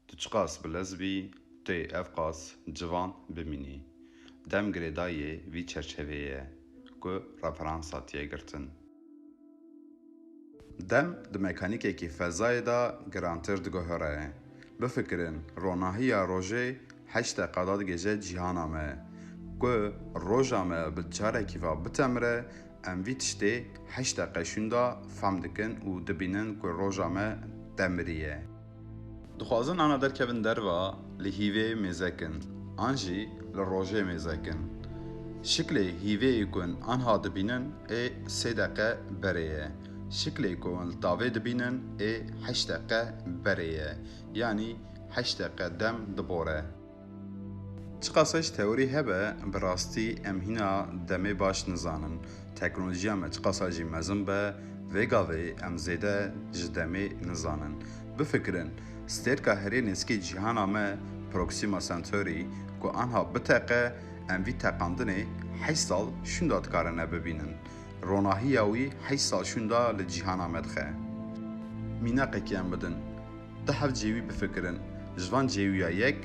Tu çiqas bilez bî, tu yê ev qas civan bimînî. Dem girêdayî yê vî çerçeveyê ye ku referansa tîye girtin. Dem di mekanîkekî fezayê de girantir diguhere. Bifikirin ronahîya rojê heşt deqa da digihêje cîhana me. Ku roja me bi carekî ve bitemire, em vî tiştê heşt deqeşûn de fehm dikin û dibînin ku roja me demiriye. Dixwazin ana derkevin derva li hîvê mêzek in an jî li rojê mêzek in. Şiklê hîveyê ku in anha dibînin ê sê deqe berê ye. Şiklê ku in li tavê dibînin ê heşt deqe berê ye. Yanî heşt deqe dem dibore. Çiqasa jî teorî hebe, bi rastî em hîna demê baş nizanin. Teknolojiya me çiqasa jî mezin be, vê gavê em zêde ji demê nizanin. Bifikirin, stêrka herê nêzikê cîhana me Proxima Centauri ku anha biteqe, em vî teqandinê heşt sal şûnda dikarin ne bibînin. Ronahiya wî heşt sal şûnda li cîhana me dixe. Mîneqekî em bidin. Di hev cêwî bifikirin. Ji van cêwiya yek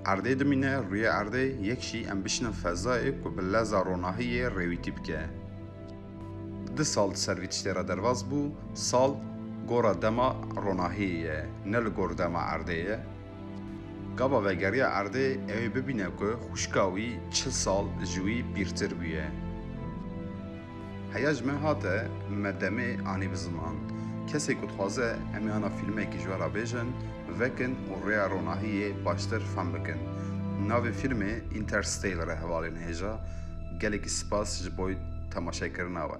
erdê dimîne, rûyê erdê, yek jî em bişinin fezayê ku bi leza ronahiyê rêwîtî bike. Di sal di ser vî tiştê re derbas bû, sal gora dema ronahiyê ye, ne li gor dema erdê ye. Gava vegeriya erdê ew ê bibîne ku xwişka wî çil sal ji wî pîrtir bûye. Heya ji me hate, me demê anî bi ziman. Kesê ku dixwaze em ê ana fîlmekî ji we re bêjin, vekin û rêya ronahiyê baştir fehm bikin. Navê fîlmê Interstellar e hevalên hêja. Gelekî spas ji boy temaşekirina we.